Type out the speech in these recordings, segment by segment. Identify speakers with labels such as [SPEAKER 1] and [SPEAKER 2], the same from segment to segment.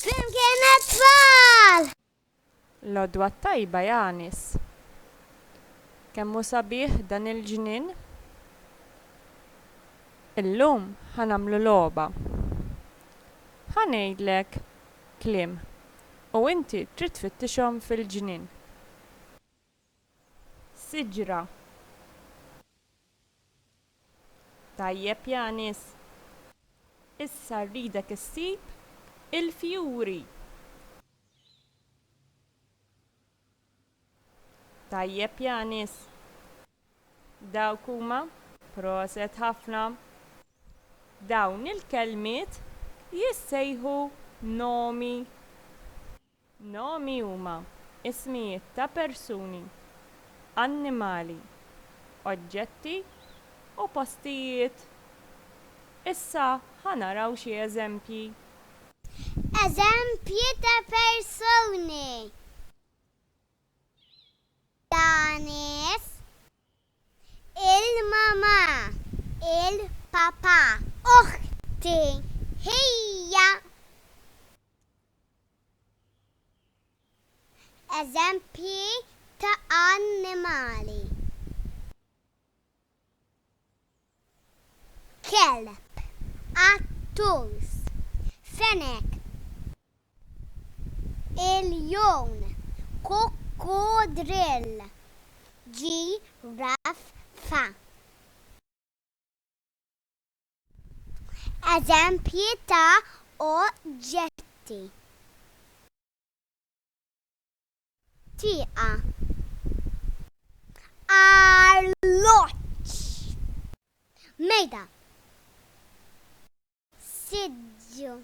[SPEAKER 1] Flimkien għat-tfal! L-għodwa t-tajba Janis. Kemm hu sabiħ dan il-ġnien. Illum ħa nagħmlu logħba. Ħa ngħidlek kliem u inti trid tfittixhom fil-ġnien. siġra Tajjeb Yanis, issa rridek issib il-fjuri Tajjeb Yanis, dawk huma. Proset ħafna. Dawn il-kelmiet jissejħu nomi. Nomi huma ismijiet ta' persuni, annimali, oġġetti u postijiet. Issa ħa naraw xi eżempji. Eżempji ta' persuni, ta' nies, il-mamà, il-papà. Oħti, ħija. Eżempji ta' annimali, kelb, qattus, fenek, iljun, kukkudrill, ġiraffa. Eżempji ta' oġġetti. Tieqa. Arloġġ. Mejda. Siġġu.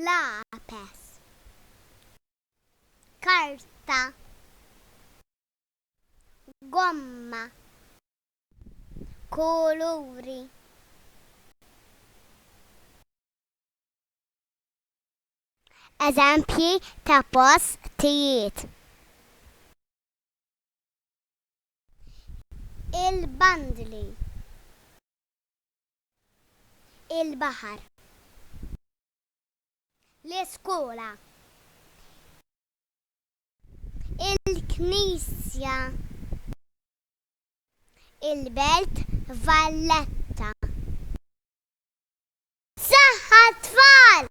[SPEAKER 1] Lapes. Karta. Gomma. kuluri. Eżempji ta' postijiet. Il-bandli. Il-baħar. L-iskola. Il-knisja. il-Belt Valletta. Saħħa t-tfal!